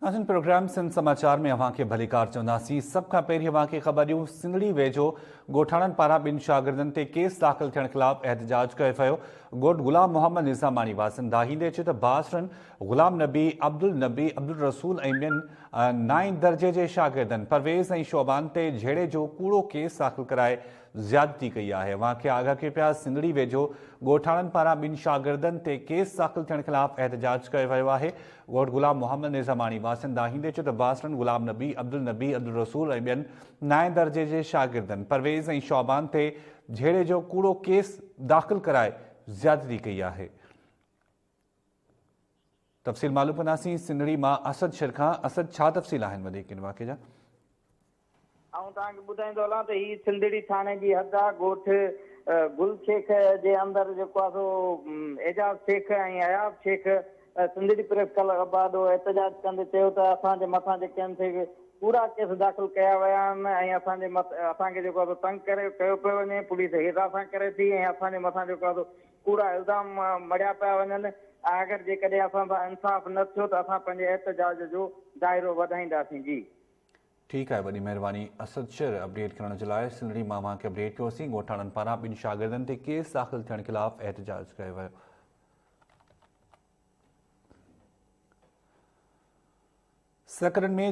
ناظرين پروگرام سنڌ سماچار ۾ اوهان کي ڀليڪار چونداسين سڀ کان پهرين اوهان کي خبر ڏيون سنڌڙي ويجهو ڳوٺاڻن پاران ٻن شاگردن تي ڪيس داخل ٿيڻ خلاف احتجاج ڪيو ويو ڳوٺ غلام محمد نظاماڻي واسن داهيندي چي ته بااثرن غلام نبي عبدالنبي عبدالرسول ۽ ٻين نائين درجي جي شاگردن پرويز ۽ شعبان تي جهيڙي جو ڪوڙو ڪيس داخل ڪرائي زيادتي ڪئي آهي اوهان کي آگاهه ڪيو پيا سنڌڙي ويجهو ڳوٺاڻن پاران ٻن شاگردن تي ڪيس داخل ٿيڻ خلاف احتجاج ڪيو ويو آهي ڳوٺ غلام محمد نظاماڻي واسين داهيندي چيو ته باسلن غلام نبي عبدالنبي عبدالرسول ۽ ٻين نائين درجي جي شاگردن پرويز ۽ شعبان تي جهيڙي جو ڪوڙو ڪيس داخل ڪرائي زيادتي ڪئي آهي تفصيل معلوم ڪنداسين سنڙي مان اسد شر کان اسد ڇا تفصيل آهن وڌيڪ ان واقعي جا. آئون توهان کي ٻڌائيندو هلان ته هي سنڌڙي ٿاڻي جي حد آ ڳوٺ گل شيخ جي اندر جيڪو آ سو اعجاز شيخ ۽ اياز شيخ سنڌڙي پريس ڪلب آڏو احتجاج ڪندي چيو ته اسان جي مٿان جيڪي ان تي ڪوڙا ڪيس داخل ڪيا ويا آهن ۽ اسان جي اسان کي جيڪو آ سو تنگ ڪري ڪيو پيو وڃي پوليس هيرا سان ڪري ٿي ۽ اسان جي مٿان جيڪو آ سو ڪوڙا الزام مڙهيا پيا وڃن، آخر جيڪڏهن اسان سان انصاف نه ٿيو ته اسان پنهنجي احتجاج جو دائرو وڌائينداسين جي. ٺيڪ آهي وڏي مهرباني اسد شر اپڊيٽ ڪرڻ جي لاء سنڌڙي مان اوهان کي اپڊيٽ ڪيوسين ڳوٺاڻن پاران ٻن شاگردن تي ڪيس داخل ٿيڻ خلاف احتجاج ڪيو ويو. سکرن ۾